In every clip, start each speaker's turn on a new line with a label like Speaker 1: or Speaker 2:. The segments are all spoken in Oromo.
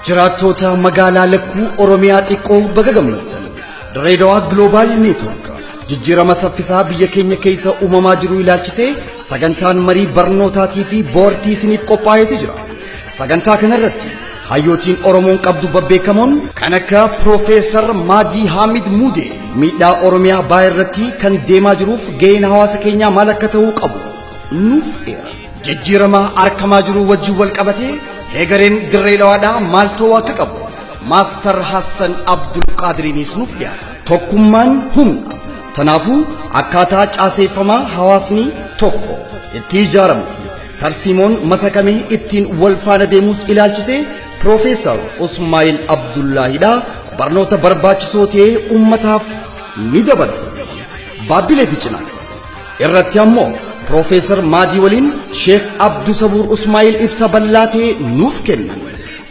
Speaker 1: Jiraattoota magaalaa lakkuu Oromiyaa xiqqoo baga gammaddan. Dirreedawaa Gloobaal Neetwoork jijjiirama saffisaa biyya keenya keessa uumamaa jiru ilaalchisee sagantaan marii barnootaatii fi boortii isiniif qophaa'eeti jira. Sagantaa kanarratti hayyootiin Oromoon qabdu babbeekamoon kan akka Piroofeesar Maajii Haamid Muudee miidhaa Oromiyaa baay'ee irratti kan deemaa jiruuf ga'een hawaasa keenyaa maal akka ta'uu qabu nuuf eera. Jijjiirama argamaa jiru wajjin wal qabatee heegareen dirree dhawaadhaa maal ta'uu akka qabu Maastar Hassan Abdul Qaadiriiniis nuuf dhiyaata. Tokkummaan humna. Kanaafuu akkaataa caaseeffamaa hawaasni tokko itti ijaaramu fi tarsiimoon masakamee ittiin wal faana deemus ilaalchisee Piroofeesar Usmaayil Abdullaahidha barnoota barbaachisoo ta'ee uummataaf ni dabarsa. Baabbilee fi Cinaaksa. irratti ammoo Piroofeesar Maadii waliin Sheekh Abdu Sabuur Usmaa'il ibsa bal'aa ta'e nuuf kennan.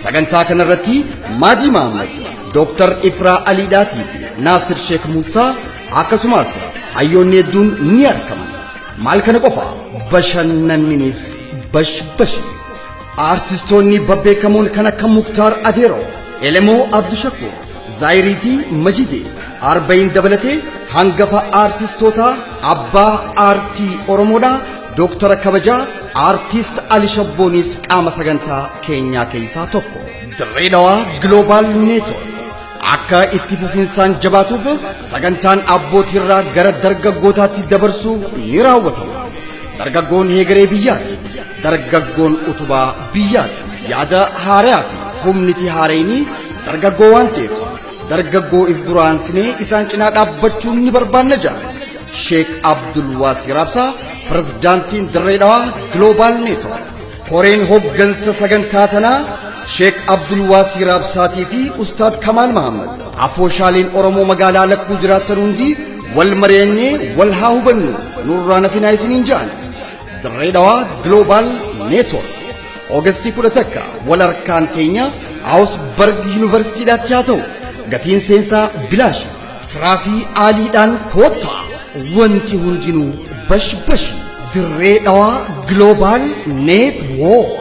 Speaker 1: Sagantaa kanarratti Maadii Mahammad, Dooktar Ifraa Aliidhaatii fi Naasir Sheekh Muusaa akkasumas hayyoonni hedduun ni argaman. Maal kana qofa bashannanninis bashbashi. Aartistoonni babbeekamoon kan akka Muktaar Adeeroo, Elemoo Abdushakuur, Zaayirii fi Majide Arba'iin dabalatee hangafa aartistootaa abbaa aartii Oromoodhaa Dooktara kabajaa aartiist Ali Shabboonis qaama sagantaa keenyaa keessaa tokko. Dirree Dhawaa Global Network akka itti fufinsaan jabaatuuf sagantaan abbootiirraa gara dargaggootaatti dabarsuu ni raawwatama. Dargaggoon heegaree biyyaati. Dargaggoon utubaa biyyaati. Yaada haaraa fi humniti haareenii Dargaggoo waan ta'eef dargaggoo if duraansinee isaan cinaa dhaabbachuun ni barbaanna jedhan. Sheek Abdul Waasii Raabsaa pirezidaantiin Dirree Dhawaa Gloobaal Neetwoork. Koreen hoggansa sagantaa tanaa Sheek Abdul Waasii Raabsaatii fi Ustaad Kamaal Mahammad. Afooshaaleen Oromoo magaalaa lakkuu jiraatan hundi wal mari'annee wal haa hubannu nurraa nafinaa isiniin jedhan. Dirree Dhawaa Gloobaal Neetwoork. Ogestii kudha takka wal harkaan keenya Awusbarg Yuunivarsiitiidhaatti haa ta'u. Gatiin seensaa bilaashi. Firaa fi aaliidhaan koottaa. Wanti hundinuu bash bashi. Dirree dhawaa Global Network.